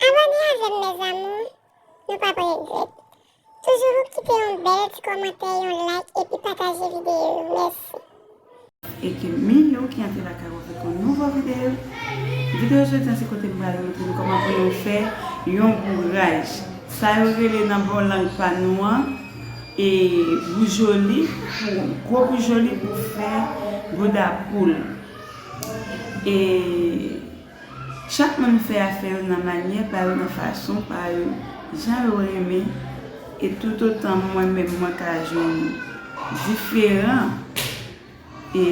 Abòne avèm mes amours nou pap regrèt toujou ou kite yon bèl ti kòmantè yon like epi pataje video yo mèsi. E ke min yo ki antre lakay ou avèk yon nouvo video Video jodi an se kote m pral montre nou kòman pou nou fè yon bouraj sa yo rele nan bon lang pa nou an e boujoli pou gwo boujoli pou fè bouda poul e. Chak moun fè afè yo nan manyè pa yo nan fason pa yo jan yo renmen e toutotan mwen menm mwen ka jwenn diferan e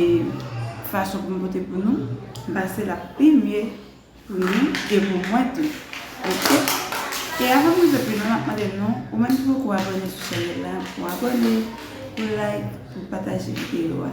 fason pou m pote pou nou m panse l ap pi mye pou nou e pou mwen tou ok e avan m rive pi lwen m ap mande nou ou menm ki poko abòne sou chanèl la pou abòne pou like pou pataje videyo a.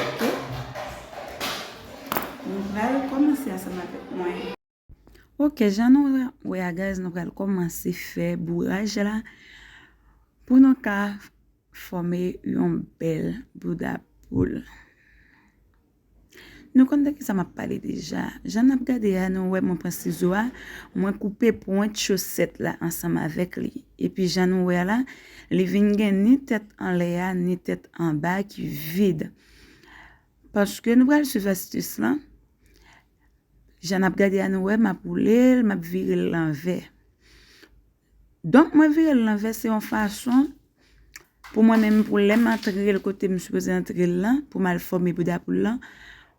Ok. Nou pral kòmanse ansanm avèk mwen. Ok, jan nou wè a guys, nou pral kòmanse fè bouraj la pou nou ka fòme yon bèl bouda poul. Nou konn de kisa map pale deja. Jan nap gade a, nou wè mwen pran sizo a, mwen koupe pwent chosèt la ansanm avèk li. Epi jan nou wè a la, Li vin gen ni tèt anlè a, ni tèt anba a ki vid. Paske nou pral suiv astis lan, jan nap gade a nou wè map woule l, map vire l lanvè. Donk mwen vire l lanvè se yon fason pou mwen menm pou lè m antre l kote m sipoze antre l lan, pou m al fòme bouda poul lan,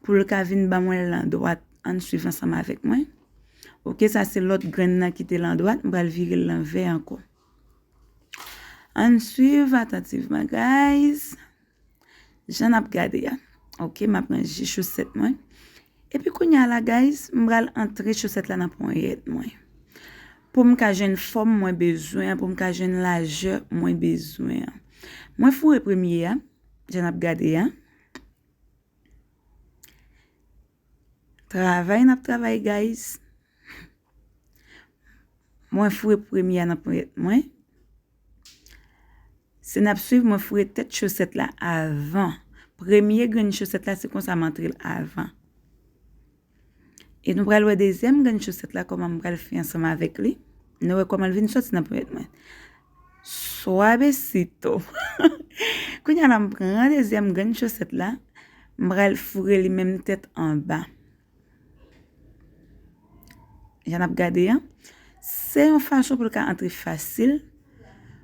pou l ka vin ban mwen l an dwat. Ann suiv ansanm avèk mwen. Ok sa se lòt grenn nan ki te l an dwat, m pral vire l lanvè ankò. Ann swiv atantivman guys. Jan nap gade ya. Ok map ranje choset mwen. Epi kounya la guys mbral antre choset la nan ponyet mwen. Poum ka jwenn fom mwen bezwen. Poum ka jwenn laje mwen bezwen. Mwen foure premye ya. Jan nap gade ya. Travay nap travay guys. Mwen foure premye a nan ponyèt mwen. Se n ap swiv mwen foure tèt chosèt la avan. Premye grenn chosèt la se konsa m antre l avan. E nou pral wè dezyèm grenn chosèt la kòman m pral fè ansanm avèk li. Nou wè kòman l vin soti nan ponyèt mwen. Swavesito! Kounye a la m pran dezyèm grenn chosèt la, m pral foure li menm tèt anba. Jan ap gade an, se yon fason pou l ka antre fasil,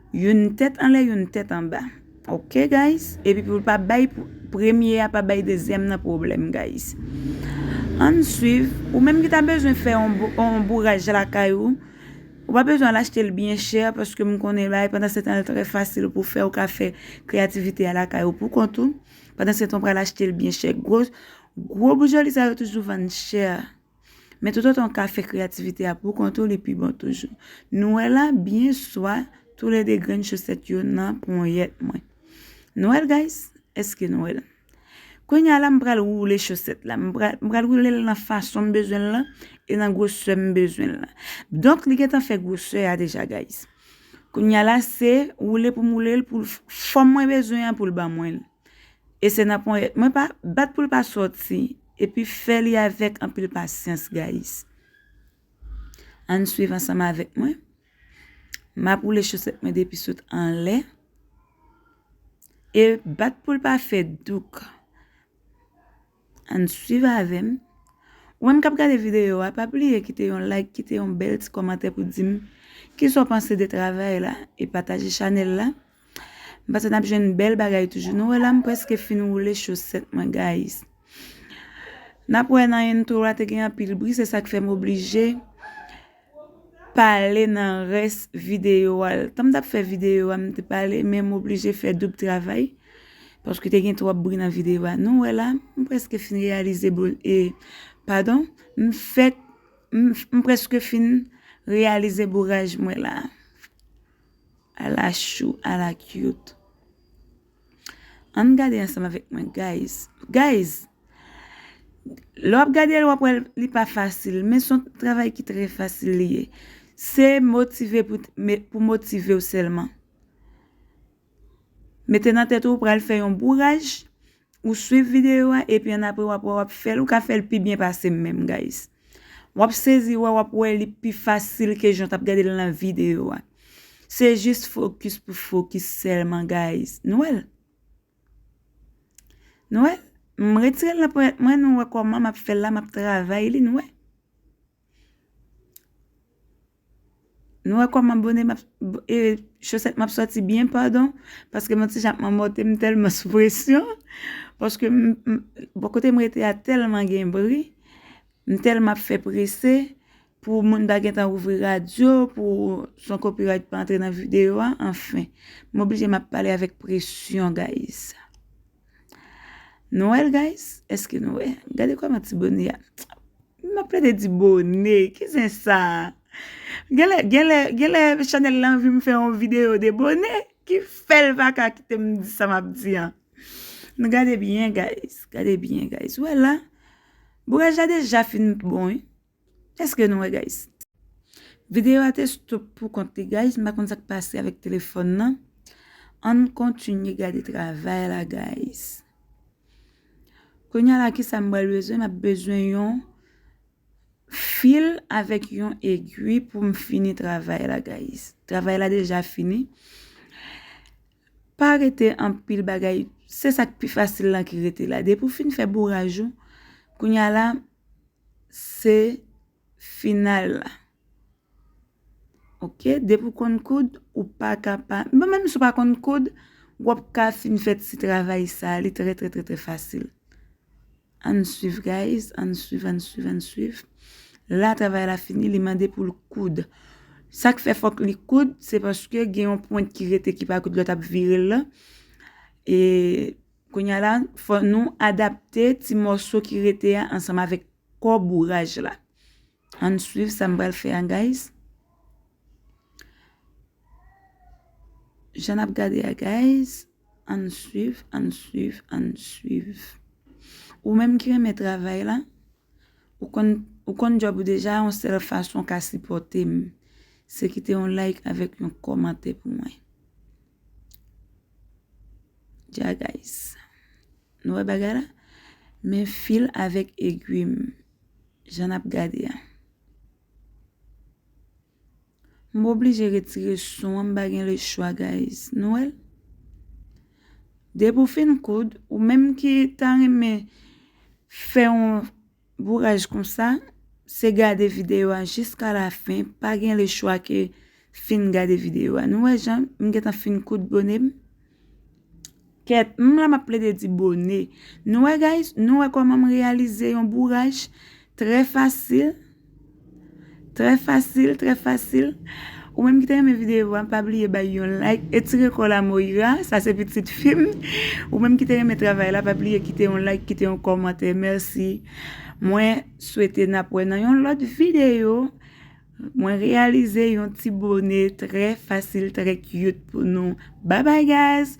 youn tèt anlè, youn tèt anba. Ok guys, epi pou l pa bay premye a pa bay dezyèm nan pwoblèm guys. Ann swiv, ou menm ki ta bezwen fè yon bouraj lakay ou, ou pa bezwen al achte l byen chè paske m konnen bagay pandansetan l trè fasil pou fè, ou ka fè kreyativite a lakay ou poukont ou, pandansetan ou pral achte l byen chè. Gwo boujoli sa yo toujou vann chè. Men toutotan w ka fè kreyativite a poukont ou li pi bon toujou. Nou wè la byen swa toulede grenn chosèt yo nan ponyèt mwen. Nou wè l guys? Eske nou wè l? Kounye a la m pral woule chosèt la. M pral woule l nan fason m bezwen l lan e nan gwosè m bezwen l lan. Donk li gentan fè gwosè a deja guys. Kounye a la se woule pou m woule l pou fòm mwen bezwen an pou l ban mwen l. E se nan ponyèt mwen pa bat pou l pa sòti epi fè li avèk anpil pasyans gayis. Ann swiv ansanm avèk mwen. M ap woule chosèt mwen depi sot anlè. E bat pou l pa fè douk. Ann swiv avèm. Ou menm kap gade videyo a pa bliye kite yon like kite yon bèl ti kòmantè pou dim kisa w panse de travay la e pataje chanèl la m panse nap jwenn bèl bagay toujou nou wè la m preske fin woule chosèt mwen guys nap wè nan intro a te gen anpil bri se sak fèm oblije pale nan res video a l. Tanm tap fè video a m te pale men m oblije fè doub travay paske te gen twòp bri nan video a nou wè la m preske fin reyalize boul e padon m fèk m preske fin reyalize bouraj mwen la ala chou ala cute. Ann gade ansanm avèk mwen guys. Guys, lè wap gadel wap wèl li pa fasil men son travay ki trè fasil li ye. Se motive pou motivew sèlman. Mete nan tèt ou ou pral fè yon bouraj, ou swiv videyo a epi annapre wap wè wap fèl, ou ka fèl pi byen pasem menm guys. Wap sezi wè wap wè li pi fasil ke jan w tap gade l nan videyo a. Se jis fokis pou fokis sèlman guys. Nou wè l? Nou wè l? M retire l nan ponyèt mwen nou wè kòman map fè l la map travay li nou wè. Nou wè kòman bone map e chosèt map sòti byen padon paske mwen ti jan ap manmòte m tèlman sou presyon paske m bò kote m rete a tèlman gen bri m tèlman ap fè prese pou moun ta gentan ouvri radyo pou son copyright pa antre nan videyo a anfen m oblije m ap pale avèk presyon guys. Nou wè l guys? Eske nou wè? Gade kòman ti bone a. M ap plede di bone. Ki zen sa? Genlè, genlè, genlè chanèl la anvi m fè yon videyo de bone ki fè l pa ka kite m di sa m ap di an. Nou gade byen guys. Gade byen guys. Ou wè la? Bouraj la deja fin bon wi. Eske nou wè guys. Video a te stop pou kont li guys m pa konn sak pase avèk telefòn nan ann kontinye gade travay la guys kounya la kisa m pral bezwen m ap bezwen yon fil avèk yon egwi pou m fini travay la guys travay la deja fini pa rete anpil bagay se sak pi fasil lan ki rete la depi w fin fè bouraj ou kounya la. se final la ok depi ou konn koud ou pa ka pa bon menm si ou pa konn koud wap ka fin fè ti travay sa li trè trè trè fasil ann swiv guys ann swiv ann swiv ann swiv la travay la fini li mande poul koud sak fè fòk li koud se paske gen yon pwent ki rete ki pa koud lòt ap vire l lan e Kounye a la, fò nou adapte ti mòso ki rete a ansanm avèk kò bouraj la. Ann swiv sa m pral fè a guys. Jan ap gade a guys, ann swiv, ann swiv, ann swiv. Ou menm ki renmen travay la, ou konn ou konn djòb ou deja yon sèl fason w ka sipòte m, se kite yon like avèk yon kòmantè pou mwen. Ja guys. Nou wè bagay la? Men fil avèk egwi m. Jan nap gade a. M oblije retire son an m pa gen le chwa guys. Nou wè l? Depi w fin koud, ou menm ki ta renmen fè yon Bouraj konsa, se gade video a jiska la fen, pa gen le chwa ke fin gade video a. Nou wè jan m gentan fin koud bone m? Kèt, m la m ap plede di bone. Nou wè guys, nou wè koman m reyalize yon bouraj trè fasil? Trè fasil trè fasil Ou menm ki te renmen video a pa bliye bay yon like Etire kòw la Moira Sa se pitit fim Ou menm ki te renmen travay la pa bliye kite yon like kite yon kòmantè mèsi Mwen swete nap wè nan yon lòt video Mwen reyalize yon ti bone trè fasil trè cute pou nou Bye bye guys.